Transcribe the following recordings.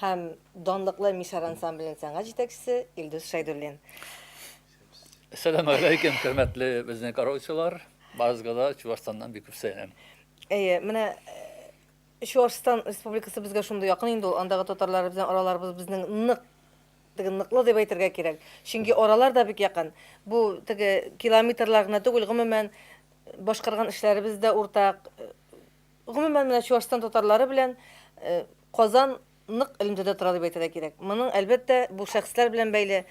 һәм данлыклы Мишар ансамбленең сәнгать җитәкчесе Илдус Шәйдуллин. Сәләмәгәләйкем, хөрмәтле безнең караучылар. Барыгызга да Чувашстаннан бик күп сәлам. Әйе, менә Чувашстан республикасы безгә шундый якын инде ул. Андагы татарлар безнең араларыбыз безнең нык теге ныклы дип әйтергә кирәк. Чөнки аралар да бик якын. Бу теге километрлар гына түгел, гомумән башкарган эшләребез дә уртак. Гомумән менә Чувашстан татарлары белән Казан нык элемтәдә тора дип әйтергә кирәк. Моның, әлбәттә, бу шәхесләр белән бәйле.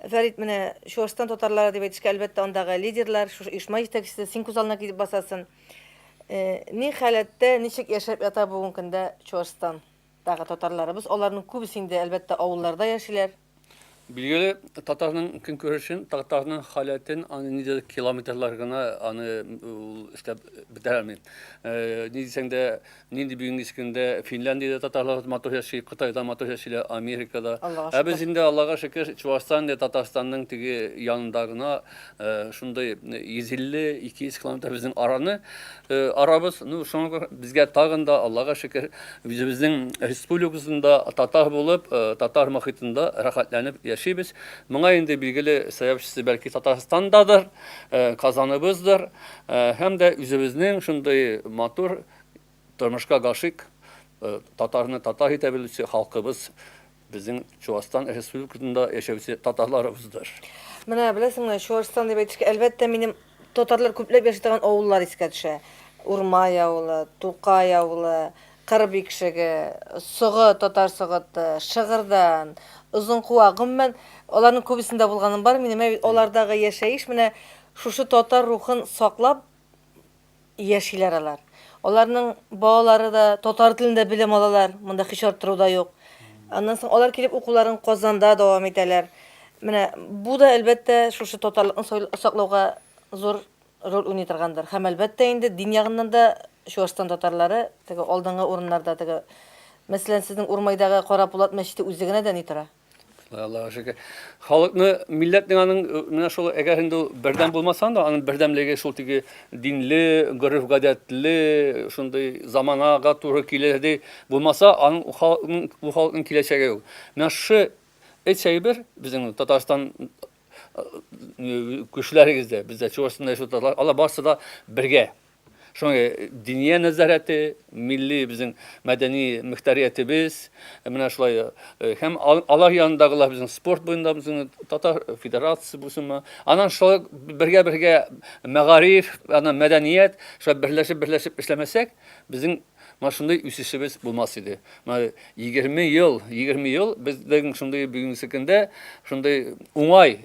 Фәрит, менә Чуашстан татарлары дип әйтешкә, әлбәттә, андагы лидерлар, шушы оешма җитәкчесе син күз алдына килеп басасын. Ни халәттә, ничек яшәп ята бүгенге көндә Чуашстан дагы татарларыбыз? Аларның күбесе инде, әлбәттә, авылларда яшиләр. Билгеле, татарның көнкүрешен, татарның халәтен, аны ниндидер километрлар гына аны ул эшләп бетерә алмый. Ни дисәң дә, нинди бүгенге көндә Финляндиядә татарлар матур яши, Кытайда матур яшиләр, Америкада. Ә без инде, Аллага шөкер, Чувашстан, Татарстанның теге янында гына Э, шундый 150-200 километр безнең араны э, арабыз. Ну, шуңа күрә безгә тагын да, Аллага шөкер, үзебезнең республикасында татар булып, э, татар мохитында рәхәтләнеп яшибез. Моңа инде билгеле сәбәпчесе бәлки Татарстандадыр, Казаныбыздыр, һәм дә үзебезнең шундый матур тормышка гашык татарны татар итә белүче халкыбыз Безнең Чуашстан Республикасында яшәүче татарларыбыздыр. Менә беләсеңме, Чуашстан дип әйтешкә, әлбәттә, минем татарлар күпләп яши торган авыллар искә төшә. Урмай авылы, Тукай авылы, Кыр Бикшеге, Согы, Татар Согыты, Шыгырдан, Озынкуак, гомумән, аларның күбесендә булганым бар минем. Алардагы яшәеш менә шушы татар рухын саклап яшиләр алар. Аларның балалары да татар телендә белем алалар, монда һич арттыру да юк. Аннан соң алар килеп укуларын Казанда дәвам итәләр. Менә бу да, әлбәттә, шушы татарлыкны саклауга зур роль уйный торгандыр. Һәм, әлбәттә, инде дин ягыннан да Чуашстан татарлары теге алдынгы урыннарда, теге, мәсәлән, сезнең Урмайдагы Кара Пулат мәчете үзе генә дә ни тора. Аллаһ шөкер. Халыкны, милләтнең аның э, менә шул әгәр инде бердәм булмасаң да, аның бердәмлеге шул теге динле, гореф-гадәтле, шундый заманага туры килерде булмаса, аның халыкның бу халыкның киләчәге юк. Менә шушы эт әйбер безнең Татарстан э, көчләрегездә, бездә Чувашстанда яшәүче татарлар, алар барысы да бергә. Шуңа Диния нәзарәте, милли безнең мәдәни мөхтәриятебез менә шулай һәм алар янындагылар безнең спорт буенда безнең татар федерациясе булсынмы. Аннан шулай бергә-бергә мәгариф, аннан мәдәният, шулай берләшеп-берләшеп эшләмәсәк, безнең Менә шундый үсешебез булмас иде. Менә егерме ел, егерме ел безнең шундый бүгенге көндә шундый уңай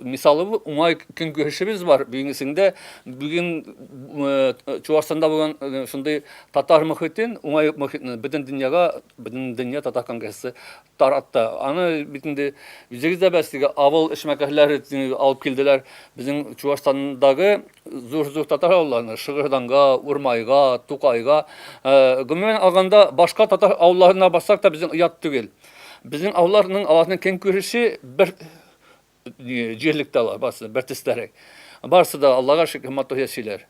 мисалы, уңай көнкүрешебез бар. Бүгенге көндә бүген Чуашстанда булган шундый татар мөхитен, уңай мөхитне бөтен дөньяга, бөтен дөнья татар конгрессы таратты. Аны бит инде үзегез дә беләсез, теге авыл эшмәкәрләре алып килделәр. Безнең Чуашстандагы Зур-зур татар авылларына, Шыгырданга, Урмайга, Тукайга, гомумән алганда, башка татар авылларына барсак та безнең оят түгел. Безнең авылларның аларның көн күреше бер җирлектә алар, барысы бер төстәрәк. Барысы да Аллага шөкер матур яшиләр.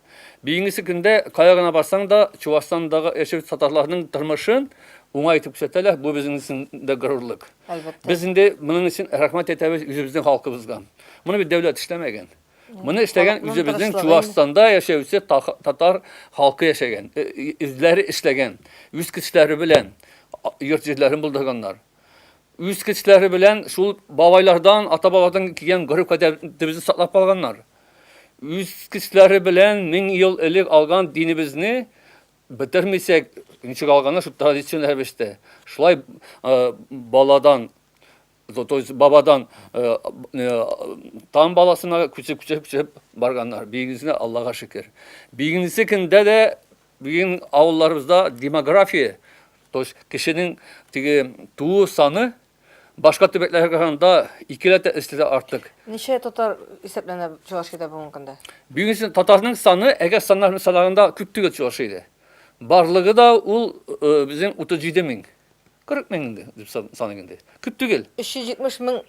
Бүгенге көндә кая гына барсаң да, Чувашстандагы яшәүче татарларның тормышын уңай итеп күрсәтәләр. Бу безнең өчен дә горурлык. Без инде моның өчен рәхмәт әйтәбез үзебезнең халкыбызга. Моны бит дәүләт эшләмәгән. Моны эшләгән үзебезнең Чувашстанда яшәүче татар халкы яшәгән, үзләре эшләгән, үз көчләре белән йорт җирләрен булдырганнар. Үз көчләре белән шул бабайлардан, ата-бабадан килгән гореф гадәтебезне саклап калганнар. Үз көчләре белән 1000 ел элек алган динебезне бетермисәк, ничек алганнар шул традицион рәвештә. Шулай баладан То то есть бабадан э, э, тан баласына күчеп күчеп күчеп барганнар. Бигезне Аллага шөкер. Бигенесе көндә дә бүген авылларыбызда демография, то есть кешенең теге туу саны башка төбәкләргә караганда икеләтә өстәтә артык. Ничә татар исәпләнә Чувашиядә бүгенге көндә? Бүгенге татарның саны әгәр саннар санаганда күп түгел Чувашиядә. Барлыгы да ул э, безнең 37 мең. Кырык мең инде, дип саныйм инде. Күп түгел. Өч йөз җитмеш мең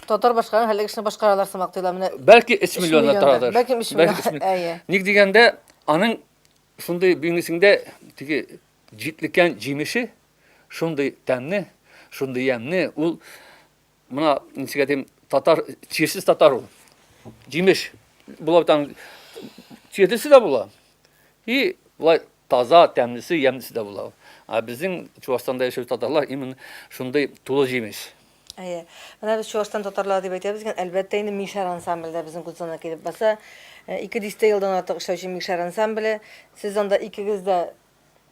татар башкарган хәллек эшне башкаралар сымак тоела. Менә Бәлки өч миллионнан торадыр. Бәлки өч миллион, әйе. Ник дигәндә, аның шундый бөңгесендә теге җитлеккән җимеше шундый тәмне, шундый ямьне, ул Мына ничек дим, татар чирсез татар ул. Җимеш була там чирдесе дә була. И була таза, тәмлесе, ямьлесе дә була. А безнең Чувашстанда яшәүче татарлар именно шундый тулы җимеш. Әйе. Менә без Чувашстан татарлары дип әйтәбез икән, әлбәттә инде Мишар ансамбле дә безнең Гудзона килеп баса. Ике дистә елдан артык эшләүче Мишар ансамбле. Сез анда икегез дә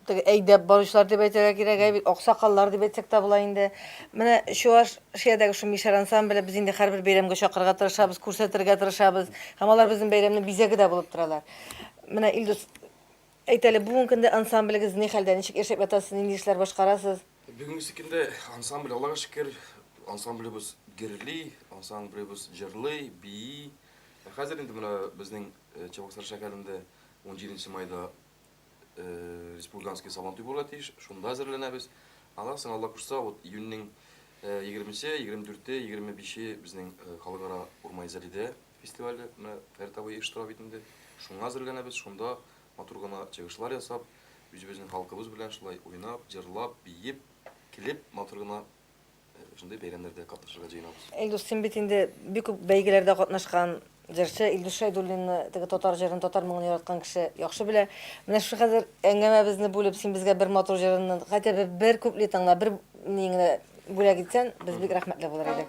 Теге әйдәп баручылар дип әйтергә кирәк, ә бит аксакаллар дип әйтсәк тә була инде. Менә Чувашиядәге шул Мишәр ансамбле без инде һәрбер бәйрәмгә чакырырга тырышабыз, күрсәтергә тырышабыз. Һәм алар безнең бәйрәмнең бизәге дә булып торалар. Менә Илдус, әйт әле, бүгенге көндә ансамблегез ни хәлдә, ничек яшәп ятасыз, нинди эшләр башкарасыз? Бүгенге көндә ансамбль, Аллага шөкер, ансамблебыз гөрли, ансамблебыз җырлый, бии. Хәзер инде менә безнең Чабаксары шәһәрендә унҗиденче майда республиканский Сабантуй була тиеш, шунда әзерләнәбез. Аннан соң Алла кушса, вот июньнең 20-се, 24-е, 25-е безнең халыкара урмай зәлидә фестивале менә Фәртавы оештыра бит инде. Шуңа әзерләнәбез, шунда матур гына чыгышлар ясап, үзебезнең халкыбыз белән шулай уйнап, җырлап, биеп, килеп матур гына Шундый бәйрәмнәрдә катнашырга җыенабыз. Илдус, син бит инде бик күп бәйгеләрдә катнашкан җырчы. Илдус Шәйдуллинны, теге татар җырын, татар моңын яраткан кеше яхшы белә. Менә шушы хәзер әңгәмәбезне бүлеп, син безгә бер матур җырын, хәтта бер, бер куплетыңны, бер ни генә бүләк итсән, без бик рәхмәтле булыр идек.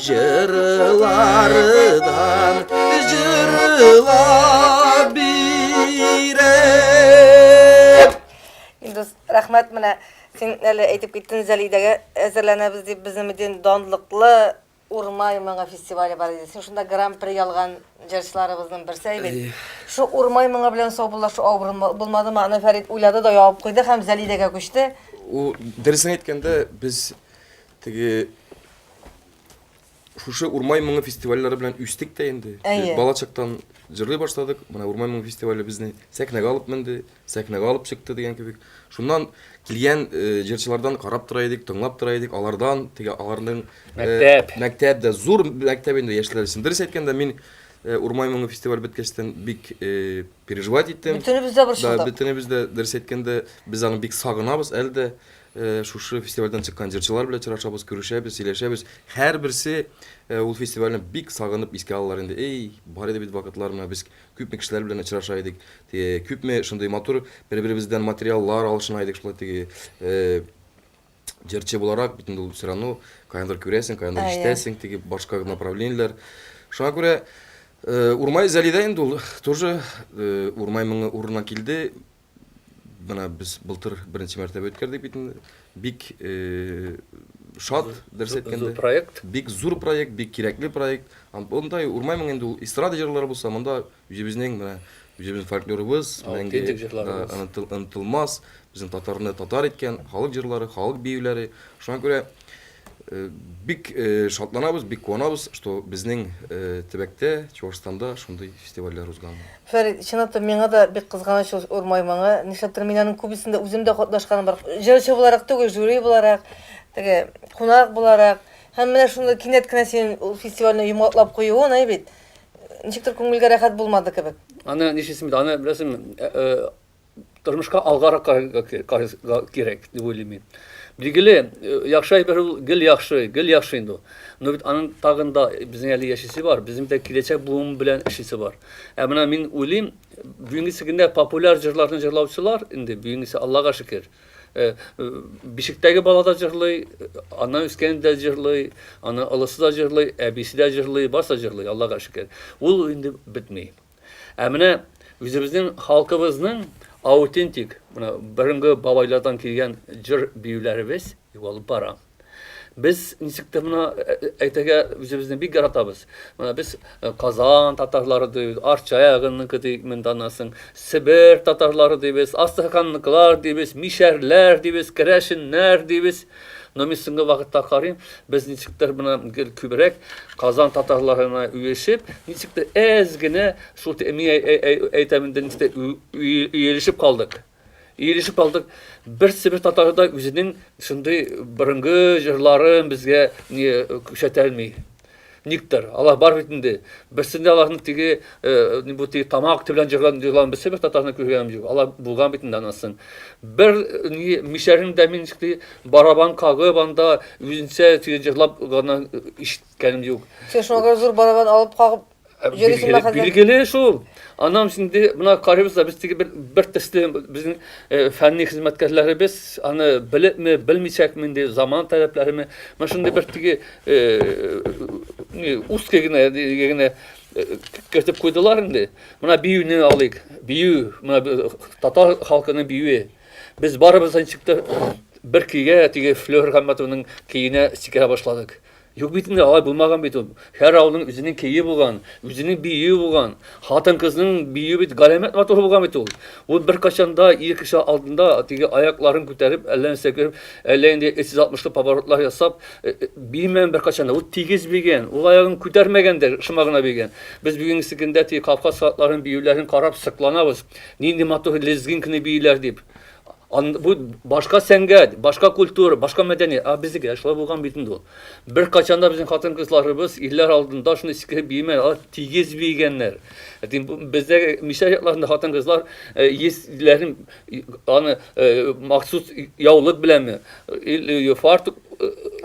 Җырлардан җырлап биреп. Индус, рәхмәт менә син әле әйтеп киттен Зәлидәгә әзерләнәбез дип безнең бит данлыклы Урмай моңы фестивале бар иде. Син шунда гран-при алган җырчыларыбызның берсе бит. Шу Урмай моңы белән саубуллашу авыр булмадымы? Аны Фәрит уйлады да ябып куйды һәм Зәлидәгә күчте. Дөресен әйткәндә, без Теге шушы Урмай моңы фестивальләре белән үстек тә инде. Әйе. Бала чактан җырлый башладык. Менә Урмай моңы фестивале безне сәхнәгә алып менде, сәхнәгә алып чыкты дигән кебек. Шуннан килгән э, җырчылардан карап тора идек, тыңлап тора идек. Алардан теге аларның э, Мәктәп. мәктәп дә зур мәктәп инде яшьләр өчен. Дөрес әйткәндә мин э, Урмай моңы фестиваль беткәчтән бик э, переживать иттем. Бөтенебез дә Да, борчылдык. бөтенебез дә дөрес әйткәндә без аны бик сагынабыз әле дә. Шушы фестивальдән чыккан җырчылар белән очрашабыз, күрешәбез, сөйләшәбез. Һәрберсе ул фестивальне бик сагынып искә алалар инде. Эй, бар иде бит вакытлар, менә без күпме кешеләр белән очраша идек, теге, күпме шундый матур бер-беребездән материаллар алышына идек, шулай теге, җырчы буларак бит инде ул всё равно каяндыр күрәсең, каяндыр ишетәсең, теге башка направлениеләр. Шуңа күрә Урмай Зәлидә инде ул тоже Урмай моңы урынына килде. Менә без былтыр беренче мәртәбә үткәрдек бит инде. Бик шат, дөрес әйткәндә. Зур проект. Бик зур проект, бик кирәкле проект. Мондай урмаймын инде ул эстрада җырлары булса, монда үзебезнең менә үзебезнең фольклорыбыз, мәңге онытылмас, безнең татарны татар иткән халык җырлары, халык биюләре. Шуңа күрә Бик шатланабыз, бик куанабыз, что безнең төбәктә, Чувашстанда шундый фестивальләр узган. Фәрит, чынлап та, миңа да бик кызганыч ул Урмай моңы. Нишләптер мин аның күбесендә үзем дә катнашканым бар. Җырчы буларак түгел, жюри буларак, теге, кунак буларак. Һәм менә шундый кинәт кенә синең ул фестивальне йомгаклап куюың, әй бит, ничектер күңелгә рәхәт булмады кебек. Аны нишлисең бит, аны, беләсеңме, тормышка алгарак карарга кирәк дип уйлыйм мин. Билгеле, э, яхшы әйбер ул гел яхшы, гел яхшы инде ул. Но бит аның тагын да безнең әле яшисе бар, безнең дә киләчәк буын белән эшлисе бар. Ә менә мин уйлыйм, бүгенгесе көндә популяр җырларны җырлаучылар инде бүгенгесе Аллага шөкер. Э, э, бишектәге бала да җырлый, ана үскән дә җырлый, ана олысы да җырлый, әбисе дә җырлый, барса җырлый, Аллага шөкер. Ул инде бетми. Ә менә үзебезнең халкыбызның аутентик, менә борынгы бабайлардан килгән җыр биюләребез югалып бара. Без ничек тә моны э, э, әйтергә үзебезне бик яратабыз. Менә без э, Казан татарлары дибез, Арча ягынныкы дибез, монда насың, Себер татарлары дибез, Астраханныкылар дибез, Мишәрләр дибез, Керәшеннәр дибез. Но мин соңгы вакытта карыйм, без ничектер менә гел күбрәк Казан татарларына үешеп, ничектер әз генә шул мин әйтәм инде ничектер үелешеп калдык. Иелешеп калдык. Берсе бер татар да үзенең шундый борынгы җырларын безгә күрсәтә алмый. Никтер. Алар бар бит инде. Берсендә аларның теге бу теге тамак төбе белән җырлан җырлан берсе бер татарны күргәнем юк. Алар булган бит инде анасын. Бер ни мишәрен дә мин шти барабан кагып анда үзенчә теге җырлап гына ишеткәнем юк. Син шуңа зур барабан алып кагып Билгеле, билгеле шул. Анам инде мына карыйбыз да без теге бер, бер төсле безнең э, фәнни хезмәткәрләребез аны белепме, белмичәкме инде заман таләпләреме. Менә шундый бер теге э, не узкий генә генә э, кертеп куйдылар инде. Менә биюне алыйк. Бию, менә э, татар халкының биюе. Без барыбыз ничектер бер көйгә теге Флёр Хамматовның көенә сикерә башладык. Юк бит инде, алай булмаган бит ул. Һәр авылның үзенең көе булган, үзенең биюе булган. Хатын-кызның биюе бит галәмәт матур булган бит ул. Ул беркайчан да ир кеше алдында теге аякларын күтәреп, әллә нәрсә кереп, әллә инде 360 поворотлар ясап э, э, бимәгән беркайчан да. Ул тигез бигән, ул аягын күтәрмәгән дә, шома гына бигән. Без бүгенге көндә теге Кавказ хатларын биюләрен карап сыкланабыз. Нинди матур лезгинкны бииләр дип. Ан, бу башка сәнгать, башка культура, башка мәдәни. А безгә шулай булган бит инде ул. Бер качан да безнең хатын-кызларыбыз илләр алдында шуны иске биемә, алар тигез биегәннәр. Әти бездә мишә якларында хатын-кызлар исләрен э, аны э, махсус яулык беләнме, э, фартук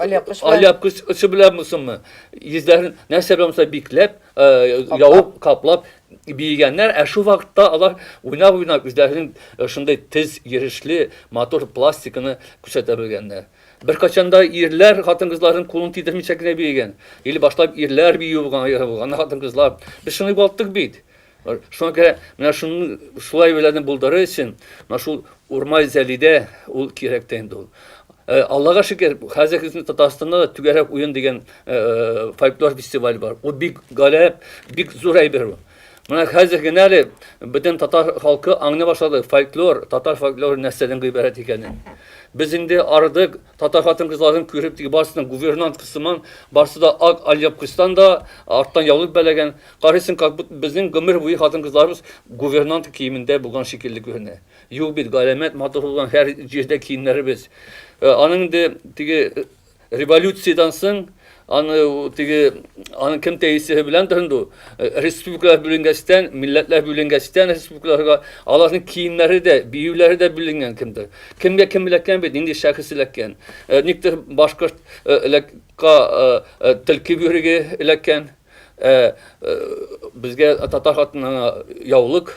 Аляб кыш белән булсынмы, йөзләрен нәрсә белән булса бикләп, явып, каплап, биегәннәр, ә шул вакытта алар уйнап-уйнап үзләренең шундый тез йөрешле, матур пластиканы күрсәтә белгәннәр. Беркайчан да ирләр хатын-кызларның кулын тидермичә генә биегән. Или башлап ирләр бию булган, аеры булган, аннан хатын-кызлар. Без шуны югалттык бит. Шуңа күрә менә шуны шулай беләне булдырыр өчен, менә шул Урмай Зәлидә ул кирәк тә инде ул. Э, Аллага шөкер, хәзер безнең Татарстанда да түгәрәк уен дигән э, э, фольклор фестиваль бар. Ул бик галәп, бик зур әйбер ул. Менә хәзер генә әле бөтен татар халкы аңлый башлады фольклор, татар фольклоры нәрсәдән гыйбарәт икәнен. Без инде ардык татар хатын-кызларын күреп теге барсының гувернант кысыман, барсы да ак альяпкыстан да арттан яулык бәләгән. Карыйсың, как будто безнең гомер буе хатын-кызларыбыз гувернант киемендә булган шикелле күренә. Юк бит, галәмәт матур булган һәр җирдә киемнәребез. Э, аның инде теге э, революциядән соң аны теге аны кем тәэсире белән тырынды э, республикалар бүленгәчтән милләтләр бүленгәчтән республикаларга аларның киемнәре дә биюләре дә бүленгән кемдер кемгә кем эләккән бит нинди шәхес эләккән никтер башкортка тилки бөрге эләккән Ә безгә татар хатынына яулык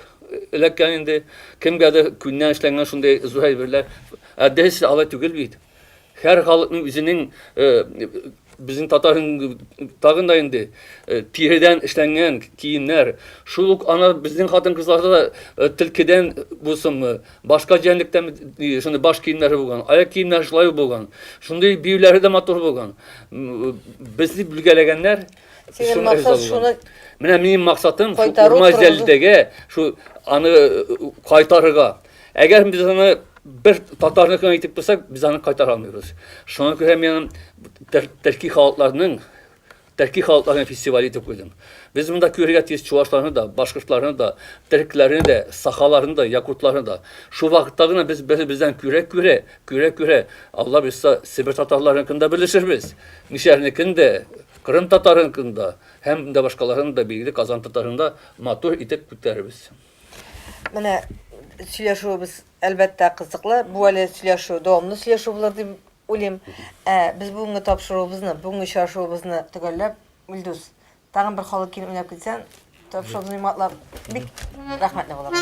эләккән инде. Кемгәдер күннән эшләнгән шундый зур әйберләр. Ә без алай түгел бит. Һәр халыкның үзенең безнең татар тагын да инде тиредән эшләнгән киемнәр. Шул ук ана безнең хатын-кызларда да телкедән булсынмы, Башка җәнлектән шундый баш киемнәре булган, аяк киемнәре шулай ук булган. Шундый биюләре дә матур булган. Безне бүлгәләгәннәр. Синең максат шуны Менә минем максатым шу урмай җәлдәгә шу аны кайтарырга. Әгәр без аны бер татарны гына итеп куйсак, без аны кайтара алмыйбыз. Шуңа күрә мин төрки халыкларның Төрки халыкларның фестивале итеп куйдым. Без монда күрергә тиеш чувашларны да, башкортларны да, төркләрне дә, сахаларны да, якутларны да. Шул вакытта гына без бер-беребездән күрә-күрә, күрә-күрә, Алла боерса, себер татарларыныкын да белешербез, мишәрнекен дә, кырым татарыныкын да һәм дә башкаларын да, билгеле, Казан татарын да матур итеп күтәрербез. Менә сөйләшүебез, әлбәттә, кызыклы. Бу әле сөйләшү, дәвамлы сөйләшү булыр дип Уйлыйм, ә без бүгенге тапшыруыбызны, бүгенге очрашуыбызны төгәлләп, Илдус, тагын бер халык килен уйнап китсәң, тапшыруыбызны йомгаклап, бик рәхмәтле булырбыз.